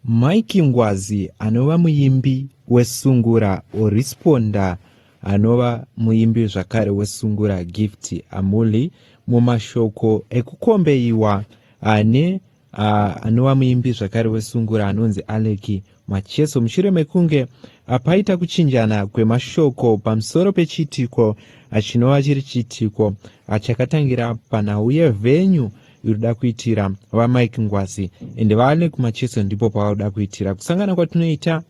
Mike Ngwazi anova muimbi weSungura Orisponda anova muimbi zvakare weSungura Gift Amuli mumashoko ekukombeiwa ane anova muimbi zvakare weSungura anonzi Aleki Macheso mushure mekunge apaita kuchinjana kwemashoko pamusoro pechiitiko chinova chiri chiitiko chakatangira panhau yevenyu irikuda kuitira vamike ngwazi ende vaane kumacheso ndipo pavakuda kuitira kusangana kwatinoita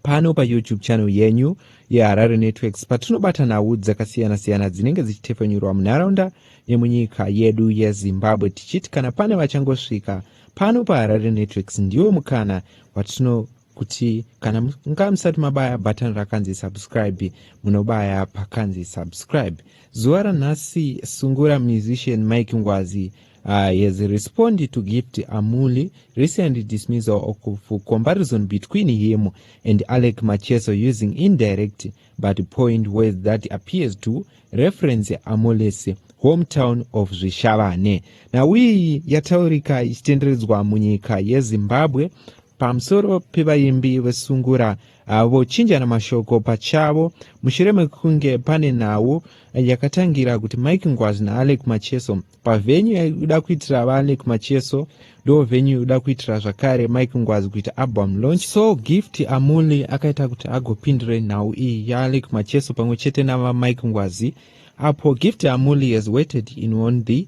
pano payoutube channel yenyu yeharare networks patinobata nhau dzakasiyana-siyana dzinenge dzichitefenyurwa munharaunda nemunyika yedu yezimbabwe tichiti kana pane vachangosvika pano paharare networks ndiwo mukana watino kuti kana munga musati mabaya button rakanzi subscribe munobaya pakanzi subscribe zuva ranhasi sungura musician mike ngwazi uh, has responded to gift amuli recent dismissal of comparison between him and alec macheso using indirect but point words that appears to reference amulis hometown of zvishavane nhau iyi yataurika ichitenderedzwa munyika yezimbabwe pamusoro pevaimbi vesungura ah, vochinjana mashoko pachavo mushure mekunge pane nhau yakatangira kuti mike ngwazi naalec macheso pavhenyu yaida kuitira vaalec macheso ndo venyu yoda kuitira zvakare mike ngwazi kuita album launch so gift amuli akaita kuti agopindure nhau iyi yaalec macheso pamwe chete navamike ngwazi apo gift amuli has waited in one the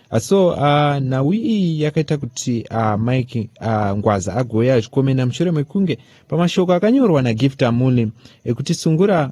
Ah, so uh, nhau iyi yakaita kuti uh, mike uh, ngwaza agouya achikomena mushure mekunge pamashoko akanyorwa nagift amuli ekuti sungura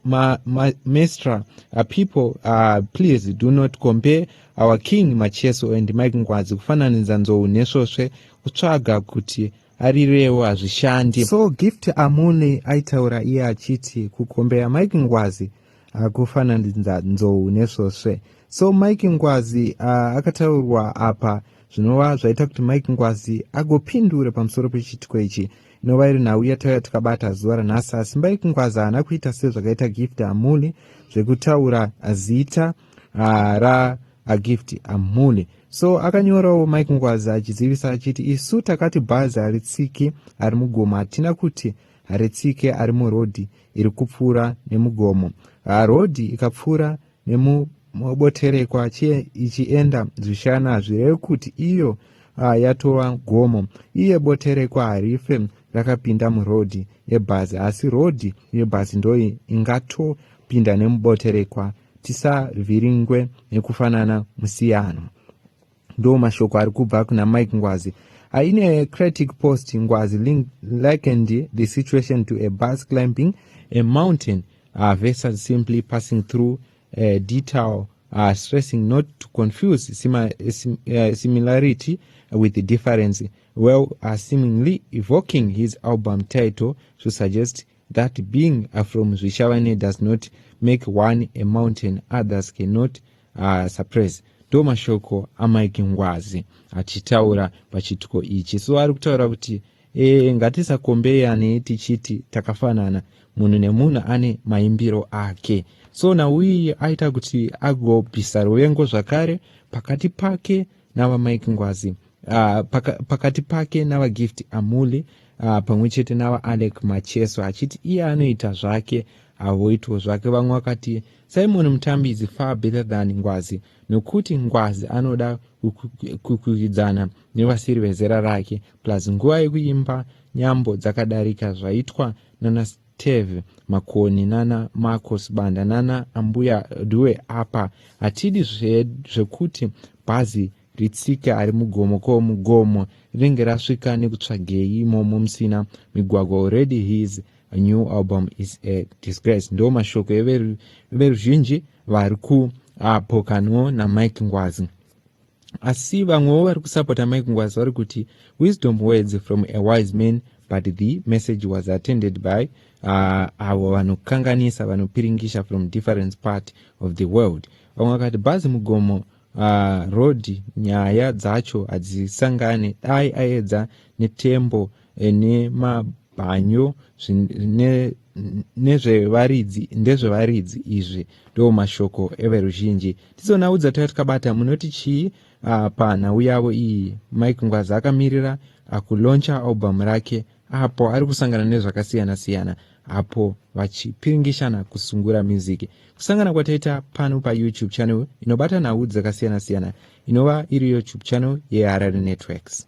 ma, ma, mestra uh, people uh, please do not compare our king macheso and mike ngwazi kufananidza nzou nesvosve kutsvaga kuti arirewo hazvishandi. So Gift Amune aitaura iye achiti kukombeya Mike Ngwazi akufananidza nzou nesvosve. So Mike Ngwazi uh, akataurwa apa zvinova zvaita kuti Mike Ngwazi agopindura pamusoro pechiitiko ichi inova iri nhau yatauya tikabata zuva ranhasi asi Mike Ngwazi haana kuita sezvakaita Gift Amune zvekutaura zita uh, ra agift amhule so akanyorawo mike ngwazi achizivisa achiti isu takati bhazi haritsiki ari mugomo hatina kuti haritsike ari murodhi iri kupfuura nemugomo ah, rodhi ikapfuura nemuboterekwa chiye ichienda zvishana hazvireve kuti iyo ah, yatova gomo iye boterekwa harife rakapinda murodhi yebhazi asi rodhi yebhazi ndoyi ingato pinda nemuboterekwa tisavhiringwe nekufanana musiyano ndo mashoko ari kubva kuna mike ngwazi aine critic post ngwazi likened the situation to a bus climbing a mountain uh, versus simply passing through a detail uh, stressing not to confuse sima, sim, uh, similarity with the difference well uh, seemingly evoking his album title to suggest that being uh, from zvichavane does not make one a mountain others cannot uh, suppress ndo mashoko amike ngwazi achitaura pachitiko ichi so ari kutaura kuti e, ngatisakombeyane tichiti takafanana munhu nemunhu ane maimbiro ake so nauiyi aita kuti agobvisa ruvengo zvakare pakati pake navamike ngwazi uh, paka, pakati pake navagift amule uh, pamwe chete navaalec macheso achiti iye anoita zvake havoitwo zvake vamwe vakati simon mutambi is far better than ngwazi nokuti ngwazi anoda kukwikidzana nevasiri vezera rake plus nguva yekuimba nyambo dzakadarika zvaitwa nana Tev Makoni nana Marco Sibanda nana Ambuya Due apa hatidi zvekuti bhazi ritsike ari mugomo ko mugomo rinenge rasvika nekutsvagei imomo musina migwagwa already his new album is a disgrace ndo mashoko everuzhinji vari kuapokano namike ngwazi asi vamwewo vari kusapota mike ngwazi vari kuti wisdom words from a wise man but the message was attended by uh, avo vanokanganisa vanopiringisha from different part of the world vamwe vakati bhazi mugomo uh, road nyaya dzacho hadzisangane dai aedza netembo eh, nema bhanyo nezvevaridzi ndezvevaridzi izvi ndo mashoko everuzhinji tizonhau dzataka tikabata munoti chii ah, panhau yavo iyi mike ngwazi akamirira akuloncha album rake apo ari kusangana nezvakasiyana siyana apo vachipiringishana kusungura music kusangana kwataita pano payoutube channel inobata nhau dzakasiyana siyana inova iri youtube channel yeharare networks